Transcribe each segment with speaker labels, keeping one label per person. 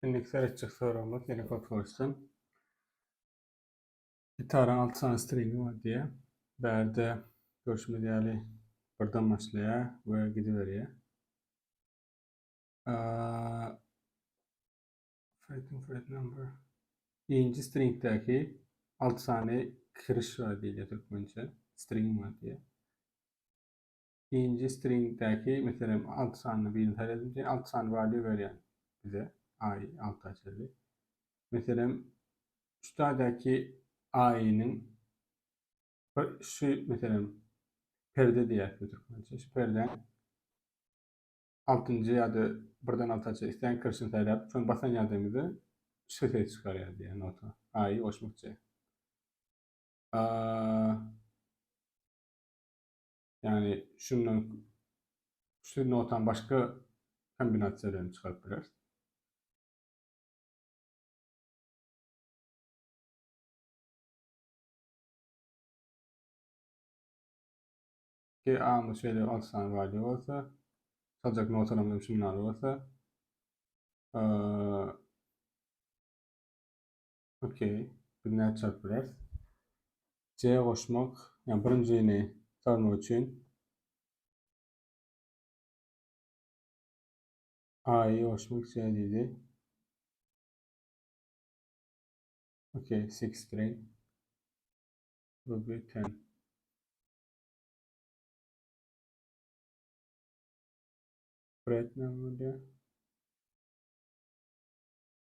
Speaker 1: Indiki seretjek soragymyz ýene Potwolsdan. Gitaryň alty sany stringi bar diýýär. Bärde görşümiz ýaly birden başlaýar we gidiberýär. Fretting fret number. Birinji stringdäki alty sany kiriş bar diýilýär türkmençe. String bar diýýär. Nji stringdäki, meselem, alty sanyny birinji saýlap edip, diýen alty sany bar diýip berýär bize. Aý alta çenli. Meselem, üstadäki aýynyň bir şu meselem perde diýýär türkmençe. Şu perde altynjy ýa-da birden alta çenli isleýän kirişini saýlap, şony basan ýagdaýymyzda şu ses çykarýar diýýär nota. Aýy goşmakçy. Ýagny şundan üçli notany başga kombinasiýa bilen çykaryp bileris. Ki A-my şeýle 6 sany value bolsa, çaljak notalarymyz şunlar bolsa, Okey. Biz nädip jogap bileris? C goşmak, ýa birinjini çözmek üçin A-y goşmak C diýdi. Okey, 8 grain. Bu bir ten. Bread ne bolýar?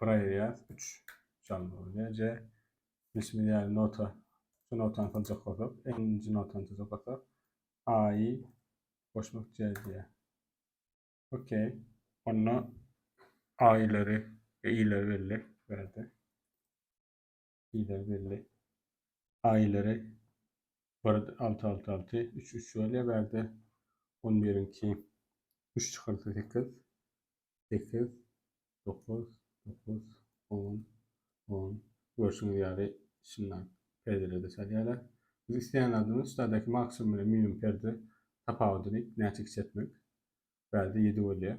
Speaker 1: Braýas 3 çalmaly. Neje bilşimiz ýaly nota şu notany çaljak bolsak, nji notany çaljak bolsak, A-y goşmak diýýär. Okey. Onda A-ýlary we I-leri belli berdi. Şeýle belli. Aýlary bir alty alty alty üç üç bolýar bärde. On biriňki üç çykarsa sekiz. Sekiz, dokuz, dokuz, on, on. Görşüňiz ýaly şundan perdelerde salýarlar. Biz isleýän zadymyz şulardaki maksimum bilen minimum perde tapawudyny näçe kiçeltmek. Bärde ýedi bolýar.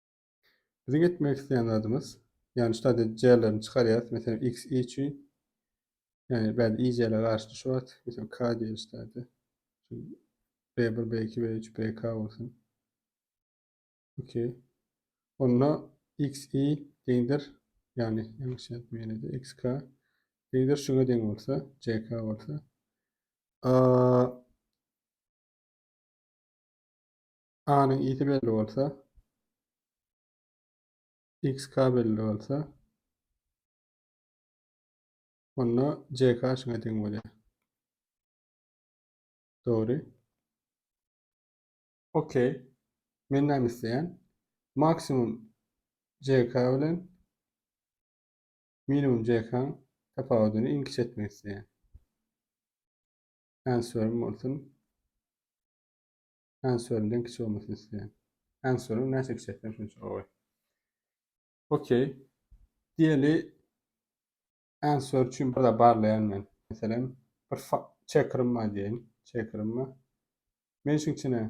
Speaker 1: Biziň etmek isleýän zadymyz, ýagny şu taýda jrlerini çykarýarys, meselem, x i üçin, ýagny bärde i jrler garşyda şu wagt, meselem, k diýeli şu taýda. B1, B2, B3, BK bolsun. Okey. Onda x i deňdir, ýagny ýalňyş ýazmyň ýene-de xk deňdir şuňa deň bolsa, ck bolsa. A A-nyň ýiti belli bolsa, XK belli bolsa, onda JK şuňa deň bolýar. Dogry. OK. Men näme isleýän? Maksimum JK bilen minimum JK-nyň tapawudyny iň kiçi etmek isleýän. Answerim bolsun. Answerden kiçi bolmasyn isleýän. Answerin näçe kiçi etsem şunça gowy. Okey. Diýeli answer üçin bir de barlaýan men. Meselem, bir checkerim bar diýeýin. Checkerim bar. Men şuň içine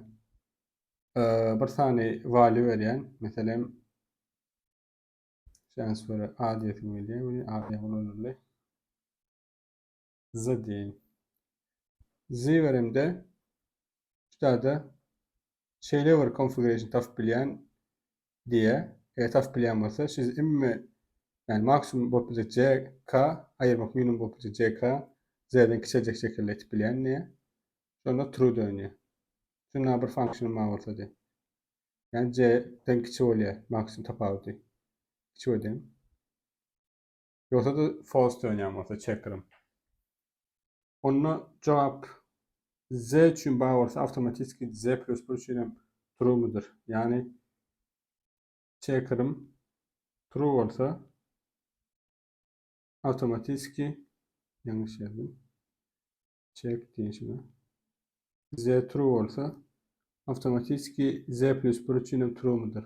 Speaker 1: bir sany value berýän. Meselem, şu answere A diýesim gelýär. Meni A diýen ulanyldy. Z diýin. Z beremde şu tada şeýle bir configuration tapyp bilýän diýe. Eger tapyp bilýän bolsa, siz imme yani maksimum bolup biljek CK ayırmak minimum bolup biljek CK Z'den kiçeljek şekilde etip bilýän diýe. Şonda true dönýär. Şunda bir function bar bolsa diýe. Yani C'den kiçi bolýar maksimum tapawudy. Kiçi bolýar. Ýogsa-da false dönýän bolsa checker'ym. Onda jogap Z üçin bar bolsa awtomatiski Z++ üçin hem true mudyr? Ýagny checker'ym true bolsa awtomatiski ýalňyş ýazdım. Check diýişine. Z true bolsa awtomatiski Z++ üçin hem true mudyr?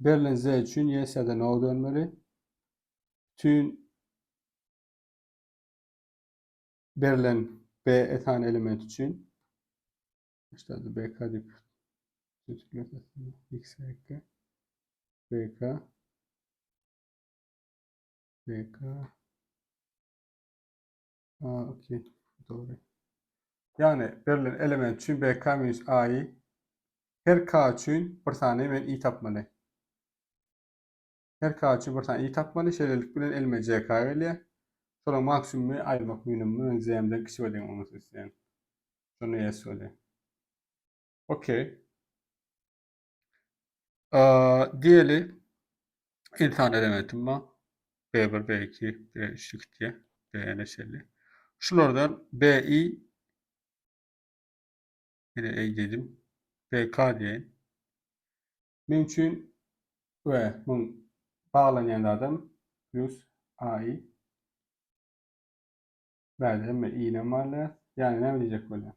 Speaker 1: Berlen Z üçin YS-de no dönmeli. Tün berlen B etan element üçin işte BK dip X BK BK Ha, okey. Dogry. Ýagny berlen element üçin BK minus AI her K üçin bir sany men i tapmaly. Her K üçin bir sany i tapmaly. Şeýlelik bilen elime JK gelýär. Şolaryň maksimumy aýyrmak minimumy men JM-den kiçi bolýan onuň üstüne isleýän. Şonda ýes bolýar. Okey. Diýeli, ynsan elementi bar. B1, B2, B3 diýip diýýär. BN-e şeýle. Şulardan BI ýene eý dedim. BK diýeýin. Men üçin we muň baglanýan zadam plus AI. Bäde hemme I-nem barlaýar. Ýagny näme diýjek bolýaň?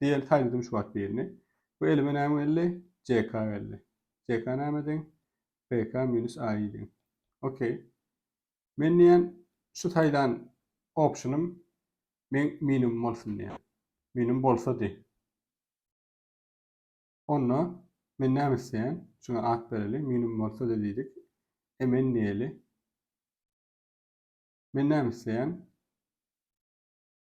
Speaker 1: Diýeli saýdym şu wagt birini. Bu elime näme geldi? JK geldi. JK näme deň? BK minus AI deň. Okey. Men diýen şu saýlan optionym men minimum bolsun diýen. Minimum bolsa diý. Onda men näme isleýän? Şuna at bereli. Minimum bolsa diý diýdik. Emen diýeli. Men näme isleýän?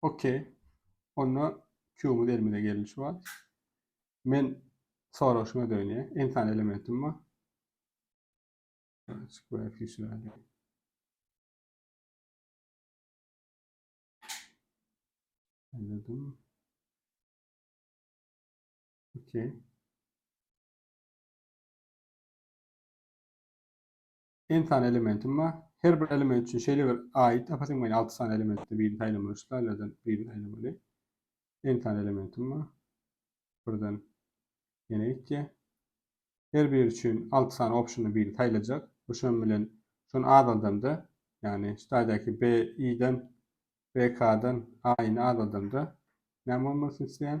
Speaker 1: Ok. Onda Q-myz elimize geldi şu wagt. Men soraşyňa dönýä. N sany elementim bar. Square feature aýdýar. Anladım. Okay. N sany elementim bar. Her bir element üçin şeýle bir aýyt tapasym gelýär. Alty sany elementde birini saýlamaly, şu taýlardan birini saýlamaly. N sany elementim bar. Birden ýene gitýär. Her biri üçin alty sany optiony birini saýlajak. Bu şunuň bilen şuny azaldamda, ýagny şu taýdaky B, I-den, B, K-dan A-ny azaldamda näme bolmalydyny isleýän?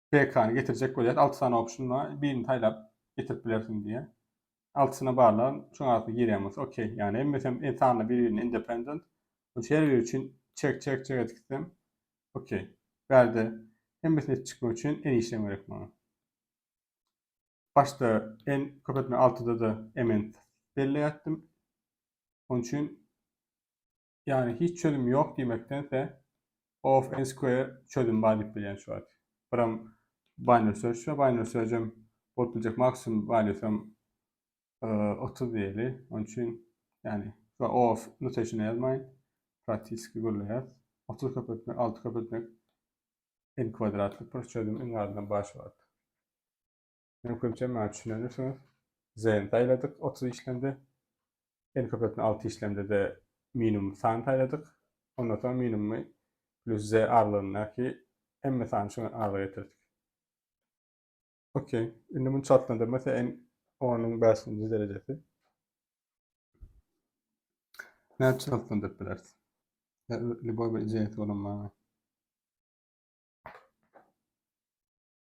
Speaker 1: PK-ny getirjek bolýar. Alty sany optiona birini saýlap getirip bilersiň diýýär. Altysyna barlagyn, şoň arasynda girýän bolsa OK. Ýagny hemmesi hem sanly bir-birine independent. Ol her biri üçin çek çek çek edip gitsem OK. Bärde hemmesini edip çykmak üçin en işlem gerek maňa. Başda en köp etme altyda da MN belleýärdim. Onun üçin Ýagny hiç çözüm ýok diýmekdense of n square çözüm bar diýip bilýän şu wagt. Biram binary search we binary searchem bolup biljek maksimum valuesam 30 diýeli. Onuň üçin ýagny şu of notation ýazmaýyn. Praktiski gürleýär. 30 köpeltmek, 6 köpeltmek n kwadratlyk bir çözüm iň azyndan bar şu wagt. Meň köpje maňa düşünendirsiňiz. Zen saýladyk 30 işlemde. Eni köpeltme 6 işlemde-de minimum san saýladyk. Ondan soň minimumy plus z aralygyndaky hemme sany şu aralyga getirdik. Okey. Indi muny çaltlandyrmasa en 10-yň 5-nji derejesi. Näçe çaltlandyryp bileris? Любой bir ijesi bolan maňa.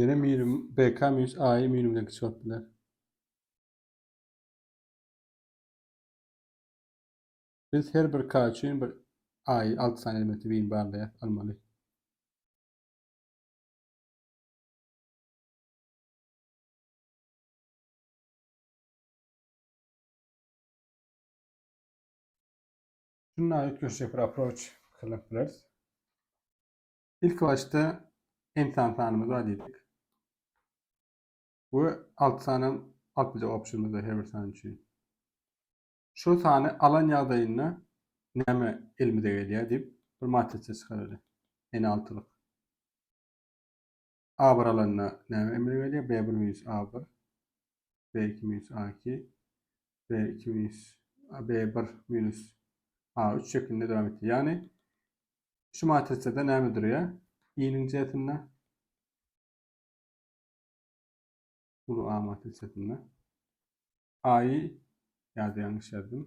Speaker 1: Ýöne minimum BK minus AI minimumdan kiçi bolup biler. Biz her bir K üçin bir AI 6 sany elementi win barlaýar almaly. Şunda üýtgeşik bir approach salyp bileris. Ilki başda ensan sanymyzy bar diýdik. We 6 sanam alyp biljek optionymyz bar her bir san üçin. Şu sany alan ýagdaýynda näme elimize gelýär diýip bir matrisa çykararys. N altylyk. A bir alanda näme emele gelýär? B bir minus A bir, B iki minus A iki, B iki minus B bir minus A üç şeklinde dowam etdi. Ýagny şu matrisada näme durýar? I-niň jisinde uly A matrisasynda A-y ýa-da ýalňyş ýazdım.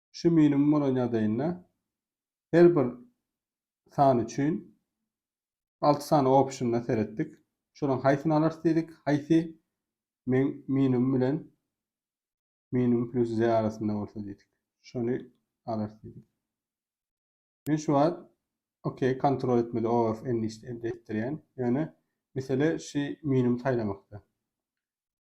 Speaker 1: şu minimum bolan ýagdaýynda her bir san üçin alty sany optiona seretdik. Şolaryň haýsyny alarys diýdik. Haýsy men minimum bilen minimum plus z arasynda bolsa diýdik. Şony alarys diýdik. Men şu wagt OK kontrol etmedi OF enlist etdirýän. Ýöne mesele şu minimum saýlamakda.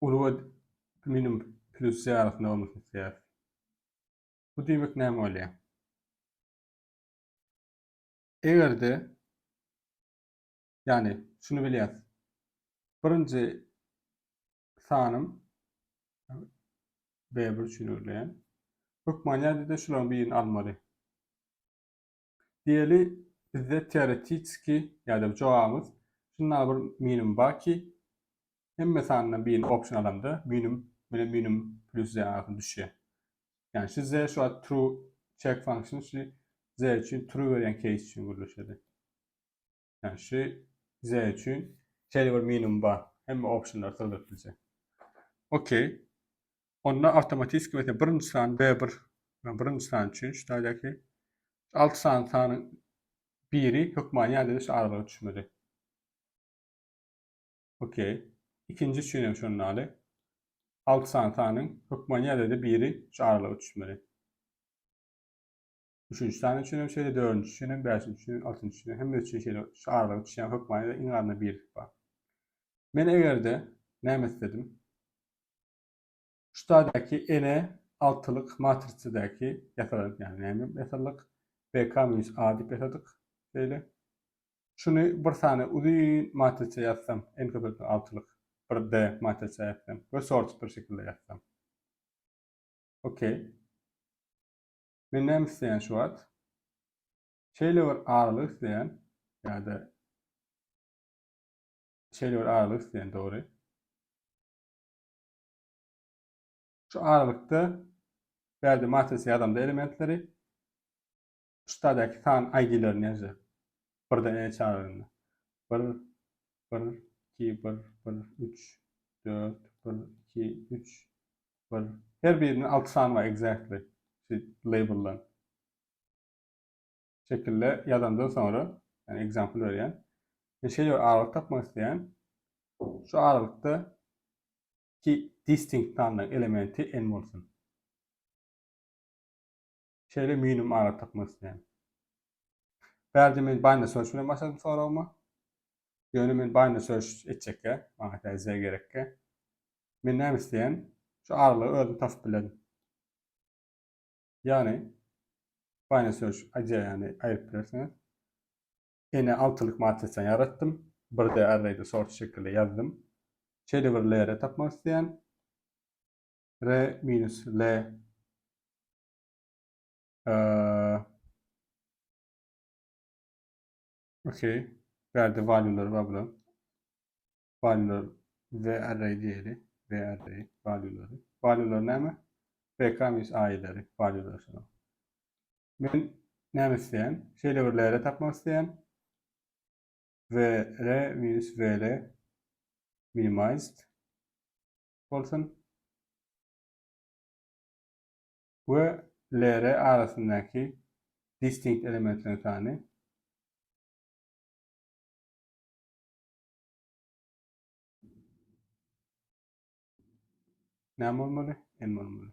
Speaker 1: Uly we minimum plusy arasynda bolmasyny isleýäris. Bu diýmek näme bolýar? Eger-de ýagny şuny bilýäris. Birinji sanym B1 üçin örülýän. Hökman ýa-da şularyň birini almaly. Diýeli, bizde teoretitski ýa-da jogabymyz şunda bir minimum barki, hemme sanyndan birini option alanda minimum bilen minimum plus ze arasynda düşýär. Ýagny şu ze şu wagt true check function şu ze üçin true berýän case üçin gürleşedi. Yani şu Z üçin şeýle bir minimum bar. Hemme optionlar syldyryp bilse. Okey. Onda avtomatiski mesela birinji san B1 yani birinji san üçin şu taýdaki 6 san sanyň biri hökmany ýerde şu aralyga düşmedi. Okey. İkinci üçin hem şondan aly. 6 san sanyň hökmany ýerde biri şu aralyga düşmedi. Üçünji sany üçin hem şeýle, dördünji üçin hem, bäşinji üçin hem, altynjy üçin hem, hemmesi üçin şeýle şu aralyga düşýän hökmanyda iň azynda birlik bar. Men eger-de näme isledim? Şu taýdaky ene altylyk matrisadäki ýasalan, ýagny näme ýasalyk? BK minus A diýip ýasadyk. Şeýle. Şuny bir sany uzyn matrisa ýazsam, n köpeltme altylyk bir D matrisa ýazsam we sorted bir şekilde ýazsam. Okey. Men näme isleýän şu wagt? Şeýle bir aralyk isleýän ýa-da şeýle bir aralyk isleýän dogry. Şu aralykda bärde matris ýazamda elementleri şu taýdaky san ID-lerini ýazyjak. Birden e çagyranda. 1 bir, iki, bir, bir, üç, dört, bir, iki, üç, bir. Her biriniň alty sany bar exactly. Şu label'dan. Şekilde ýazandan soňra, yani example berýän. Men şeýle bir aralyk tapmak isleýän. Şu aralykda iki distinct sanly elementi n bolsun. Şeýle minimum ara tapmak isleýän. Bärde men bind search bilen başladym soragyma. Ýöne men bind search etjekkä, maňa täze gerekkä. Men näme isleýän? Şu aralygy özüm tapyp bilerin. Ýagny bind search aýdýany aýryp bilersiňiz. Ene altylyk matrisa ýaratdym. Bir de arrayda sort şekilde ýazdym. Şeýle bir layer tapmak isleýän. R minus L Eee Okey. Bu ýerde value'lar bar bular. Value'lar ve array diýeli. Ve array value'lary. Value'lar näme? VK mis aýyları value'lar şular. Men näme isleýän? Şeýle bir lere tapmak isleýän. Ve re minus ve re minimized bolsun. we LR arasyndaky distinkt elementleriň sany. Näme bolmaly? N bolmaly.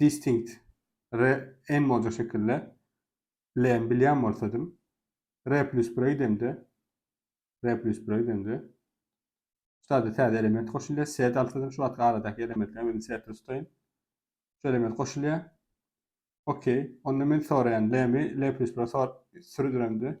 Speaker 1: Distinct re emoji şekille lem bilýän bolsadym re plus bir öýdemde re plus bir öýdemde Şurada täze element goşulýar. Set alsadym şu wagtky aradaky elementler meni setde tutaýyn. Şu element goşulýar. Okey. Onda men soraýan lemi le plus bir sürüdiremde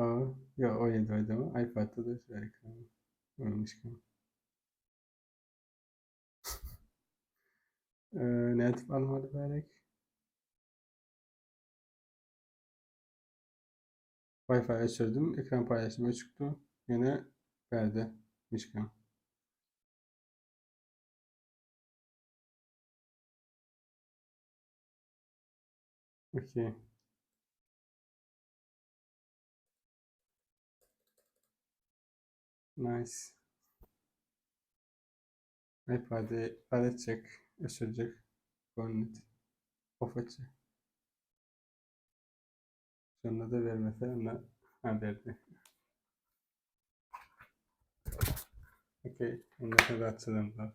Speaker 1: Aa, ýa o Android-demi? iPad-da da bar eken. Görmüşken. Ee, nädip almaly gerek? Wi-Fi öçürdim, ekran paýlaşym öçükdi. Ýene bärde mişken. Okey. Nice. iPad'i bad etjek, öçürjek. Gönnet. Of etjek. Şonda da bermese, onda ha berdi. Okey, onda da açalım bak.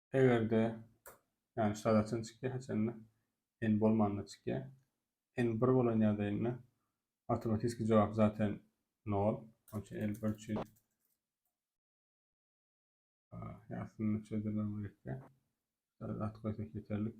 Speaker 1: Eger-de, ýagny şada çyn çykýar, haçanda n bolmanda çykýar. n bir bolan ýagdaýynda awtomatiski jogap zaten nol. Onuň üçin n bir üçin ýagtyny çözdirmem gerekde. Şada at goýsak ýeterlik.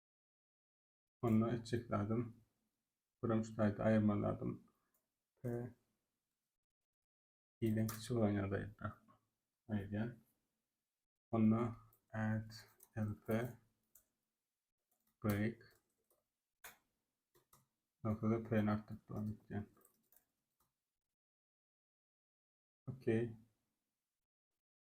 Speaker 1: Onda etjek zadym birim ştaýdy aýyrmaly zadym p iden kiçi bolan ýagdaýynda aýyrýan. Onda add lp break noktada p artdyryp dowam etýän. Okay.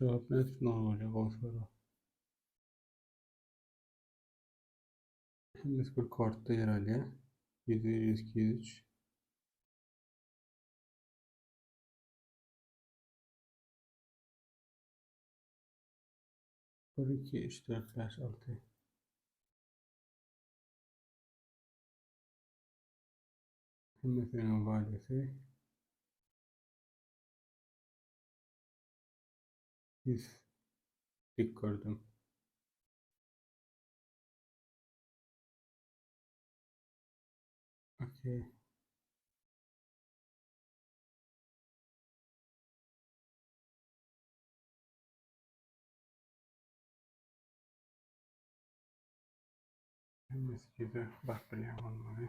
Speaker 1: Jogap nädip muňa bolýa gowy sorag. Hemmesi bir kortda ýer alýa. 101, 102, 103. Bir, iki, üç, dört, beş, altı. Hemmesiniň valisi Ýüz dik gördüm. Okey. Mesgide bak bilýän bolmaly.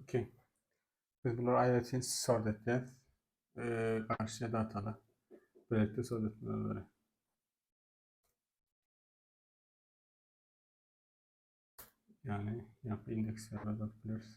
Speaker 1: Okey. Biz bunları aýratyn sort etýäs. Eee, garşy datala. Birlikde sort etmeli olaryň. Yani, ýa-da indeksleri alyp bilers.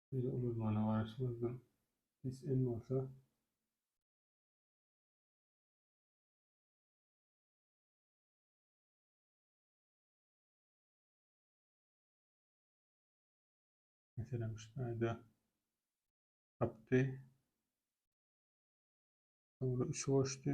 Speaker 1: Biz ulalmana garaşmazdan pes en bolsa Meselem şu taýda tapdy. Soňra üçi goşdy.